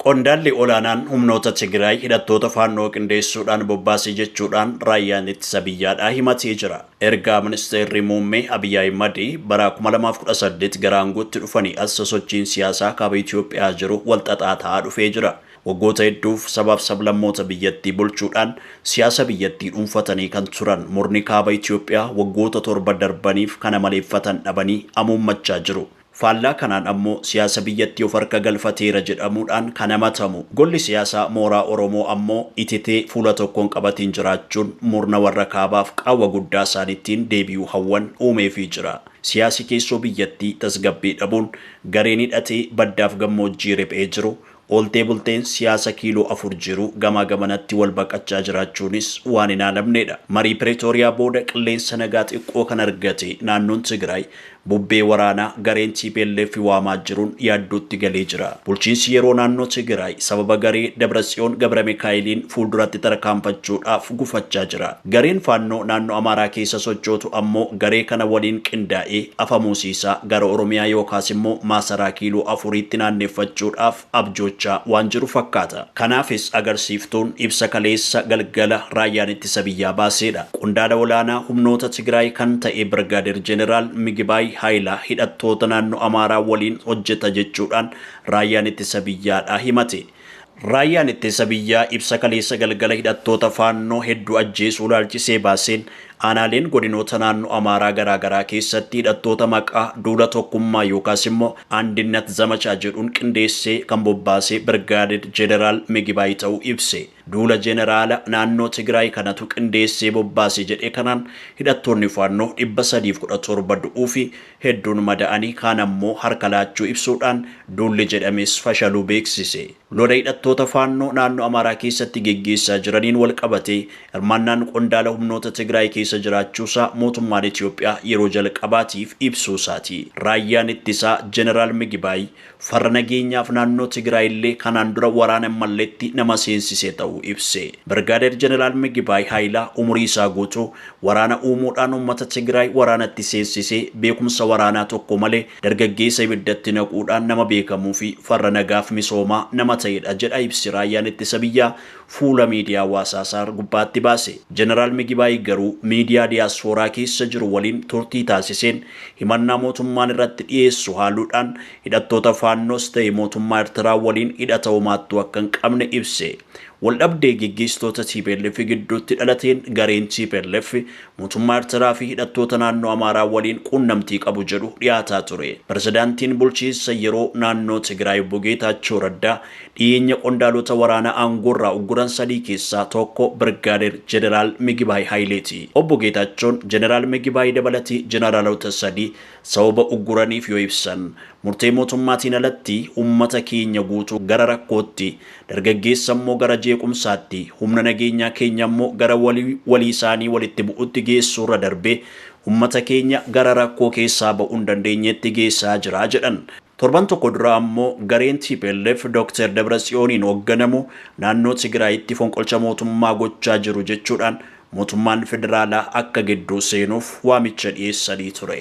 Qondaalli olaanaan humnoota Tigiraay hidhattoota Faannoo qindeessuudhaan bobbaase jechuudhaan Raayyaan Ittisa Biyyaadhaa himatee jira. Ergaa Ministeerri Muummee Abiy Ahimad bara 2018 gara aangootti dhufanii as sosochiin siyaasaa Kaaba Itoophiyaa jiru wal xaxaa ta'aa dhufee jira. Waggoota hedduuf sabaaf sablammoota biyyattii bulchuudhaan siyaasa biyyattii dhuunfatanii kan turan murni Kaaba Itoophiyaa waggoota torba darbaniif kan amaleeffatan dhabanii amuummachaa jiru. Faallaa kanaan ammoo siyaasa biyyattii of harka galfateera jedhamuudhaan kan hamatamu golli siyaasaa mooraa Oromoo ammoo ititee fuula tokko hin qabatiin jiraachuun murna warra kaabaaf qaawwa guddaa isaan ittiin deebi'uu hawwan uumeefii jira. Siyaasi keessoo biyyattii tasgabbii dhabuun gareen hidhatee baddaaf gammoojjii riphee jiru Ooltee bulteen siyaasa kiiloo afur jiru gamaa gamanatti wal baqachaa jiraachuunis waan hin haalamneedha. Marii Piretooriyaa booda qilleensa nagaa xiqqoo kan argate naannoon Tigraay bubbee waraanaa gareen tplf waamaa jiruun yaaddootti galee jira. Bulchiinsi yeroo naannoo Tigraay sababa garee Dabratsiyoon Gabramikaa'eliin fuulduratti tarkaanfachuudhaaf gufachaa jira. Gareen Faannoo naannoo Amaaraa keessa sochootu ammoo garee kana waliin qindaa'ee afamuusii isaa gara Oromiyaa yookaas immoo Maasaraa Kiiloo Afuriitti naanneffachuudhaaf abjoochaa waan jiru fakkaata. Kanaafis agarsiiftuun ibsa kaleessa galgala Raayyaan Ittisa Biyyaa baaseedha. Qondaala olaanaa humnoota Tigraay kan ta'e Birgaadeer Jeneraal Migibaay Haayilaa hidhattoota naannoo Amaaraa waliin hojjeta jechuudhaan Raayyaan Ittisa Biyyaadhaa himate. Raayyaan Ittisa Biyyaa ibsa kaleessa galgala hidhattoota Faannoo hedduu ajjeesuu ilaalchisee baaseen, aanaaleen godinoota naannoo Amaaraa garaagaraa keessatti hidhattoota maqaa duula tokkummaa yookaas immoo Andinnat Zamachaa jedhuun qindeessee kan bobbaase Birgaaded Jeneraal Migibaay ta'uu ibse. Duula Jeneraala naannoo Tigraay kanatu qindeessee bobbaase jedhe kanaan hidhattoonni Faannoo 317 du'uufi hedduun mada'anii kaan ammoo harka laachuu ibsuudhaan duulli jedhames fashaluu beeksise. Lola hidhattoota Faannoo naannoo Amaaraa keessatti geggeessaa jiraniin walqabatee hirmaannaan qondaala humnoota Tigraay keessa jiraachuusaa mootummaan Itoophiyaa yeroo jalqabaatiif ibsuusaati. Raayyaan Ittisaa Jeneraal Migibaay Farra nageenyaaf naannoo Tigraay illee kanaan dura waraana hin malletti nama seensisee ta'uu ibse. Birgaadeer Jeneraal Migibaay Haayilaa umurii isaa guutuu waraana uumuudhaan uummata Tigraay waraanatti seensisee beekumsa waraanaa tokko malee dargaggeessa ibiddatti naquudhaan nama beekamuufi farra nagaaf misoomaa nama ta'edha jedha ibsi Raayyaan Ittisa Biyyaa fuula miidiyaa hawaasaa isaa gubbaatti baase. Jeneraal Migibaay garuu miidiyaa diyaaspooraa keessa jiru waliin turtii taasiseen himannaa mootummaan irratti dhiyeessu haaluudhaan hidhattoota Faannoos ta'e mootummaa Ertiraa waliin hidhata homaattuu akka hin qabne ibse. Waldhabdee geggeessitoota tplf gidduutti dhalateen gareen tplf mootummaa Ertiraa fi hidhattoota naannoo Amaaraa waliin quunnamtii qabu jedhu dhiyaataa ture. Pirezidaantiin bulchiinsa yeroo naannoo Tigraay Obbo Geetaachoo Raddaa Dhiyeenya qondaalota waraanaa aangoorraa ugguran sadii keessaa tokko Birgaadeer Jeneraal Migibaay Hayileeti. Obbo Geetaachoon Jeneraal Migibaay dabalatee Jeneraalota sadii sababa ugguraniif yoo ibsan, murtee mootummaatiin alatti ummata keenya guutuu gara rakkootti, dargaggeessa immoo gara jeequmsaatti, humna nageenyaa keenya immoo gara walii walii isaanii walitti bu'utti geessuurra darbee ummata keenya gara rakkoo keessaa ba'uu hin dandeenyeetti geessaa jira jedhan. Torban tokko dura ammoo gareen tplf Dooktar Dabratsiyooniin hoogganamu naannoo Tigiraayitti fonqolcha mootummaa gochaa jiru jechuudhaan mootummaan federaalaa akka gidduu seenuuf waamicha dhiyeessanii ture.